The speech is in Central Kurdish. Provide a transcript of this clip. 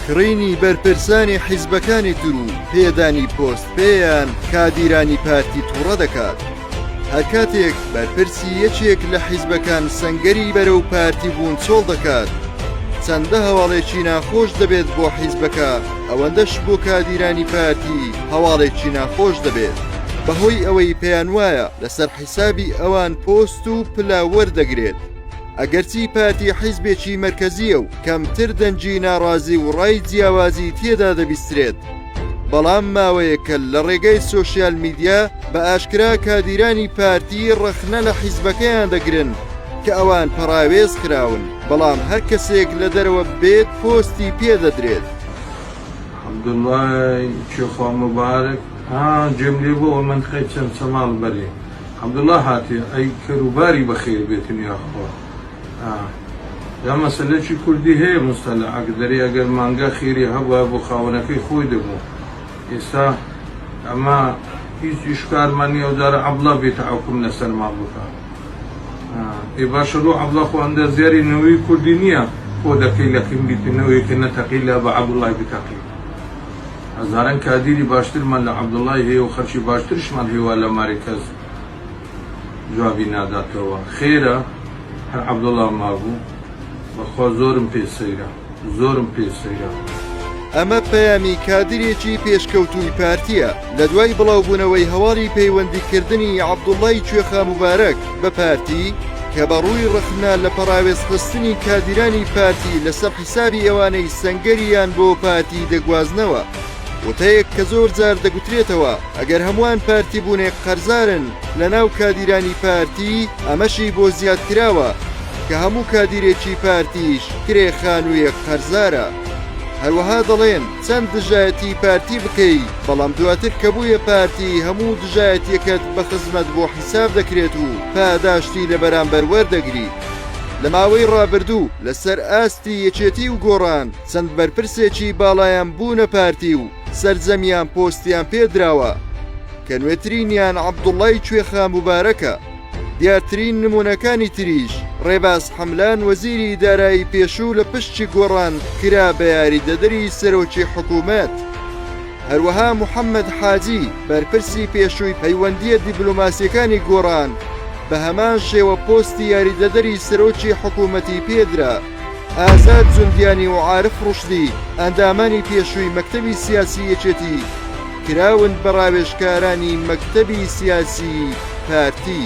کڕینی بەرپرسانی حیزبەکانی تر و پێدانی پۆست پێیان کادیرانی پارتی تووڕە دەکات. هەرکاتێک بەرپرسی یەکێک لە حیزبەکان سەنگەری بەرەو پارتی بوون چۆڵ دەکات، چەندە هەواڵێکی ناخۆش دەبێت بۆ حیزبەکە، ئەوەندەش بۆ کادیرانی پارتی هەواڵێکی ناخۆش دەبێت، بەهۆی ئەوەی پێیانوایە لەسەر حیسابی ئەوان پۆست و پلە وەردەگرێت. ئەگەرچی پارتی حیزبێکی مەرکەزییە و کەمتر دەنگی ناڕازی و ڕای جیاوازی تێدا دەبیسترێت، بەڵام ماوەیەکە لە ڕێگەی سۆشیال میدیا بە ئاشکرا کادیرانی پارتی ڕەخنە لە حیزبەکەیان دەگرن کە ئەوان پەڕاوێز خراون، بەڵام هەر کەسێک لە دەرەوە بێت پۆستی پێ دەدرێت. عەبدوڵا هاتێ ئەی کەر و باری بەخێر بێتن یاخوا ئا جا مەسەلە چی کوردی هەیە موستەلەعە دەرێ ئەگەر مانگا خێری هەبوایە بۆ خاوەنەکەی خۆی دەبوو ئێستا ئەمە هیچ ئیشکالمان نیە ئەو جارە عەبڵا بێتە حوکم لەسەرمان بکا ئا ئێ باشە لۆ عەبڵا خۆ ئەندازیاری نەوەی کوردی نیە خۆ دەکەی لە کنگی تە نەوەیەکە نەتەقی لا بە عەبوڵای بتەقی. هەزاران کادیری باشترمان لە عەبدوڵای هەیە و خەرکی باشترشمان هەیە وا لە مارێ کەس جوابی ناداتەوە خێرە هەر عەبدوڵا مابوو بەخوا زۆرم پێ سەیرە زۆرم پێ سەیرە. ئەمە پەیامی کادرێکی پێشکەوتووی پارتییە لە دوای بڵاوبوونەوەی هەواڵی پەیوەندیکردنی عەبدوڵڵای کوێخا موبارەک بە پارتی کە بە ڕووی ڕەخنە لە پەڕاوێزخستنی کادیرانی پارتی لەسەر حسابی ئەوانەی سەنگەری یان بۆ پارتی دەگوازنەوە. وتەیەک کە زۆر جار دەگوترێتەوە ئەگەر هەمووان پارتی بوونێ قەرزارن لە ناو کادیرانی پارتی ئەمەشی بۆ زیاد کراوە کە هەموو کادیرێکی پارتیش کرێ خانووێک قەرزارە. هەروەها دەڵێن چەند دژایەتی پارتی بکەی بەڵام دواتر کە بوویە پارتی هەموو دژایەتیەکەت بە خزمەت بۆ حیساب دەکرێت و پاداشتی لە بەرامبەر وەردەگری. لە ماوەی ڕابردوو لەسەر ئاستی یەکێتی و گۆڕان چەند بەرپرسێکی باڵایان بوونە پارتی و سەرجەمیان پۆستیان پێ دراوە کە نوێترینیان عەبدوڵای کوێخا موبارەکە، دیارترین نموونەکانی تریش ڕێباز حەملان وەزیری دارایی پێشوو لە پشکی گۆڕان کرا بە یاریدەدەری سەرۆکی حکوومەت. هەروەها محەممەد حاجی، بەرپرسی پێشووی پەیوەندییە دیبلۆماسییەکانی گۆڕان، بە هەمان شێوە پۆستی یاریدەدەری سەرۆکی حکوومەتی پێ درا. ئازاد جوندیانی و عارف ڕوشدی، ئەندامانی پێشووی مەکتەبی سیاسیی یەکێتی، کراون بە ڕاوێژکارانی مەکتەبی سیاسیی پارتی.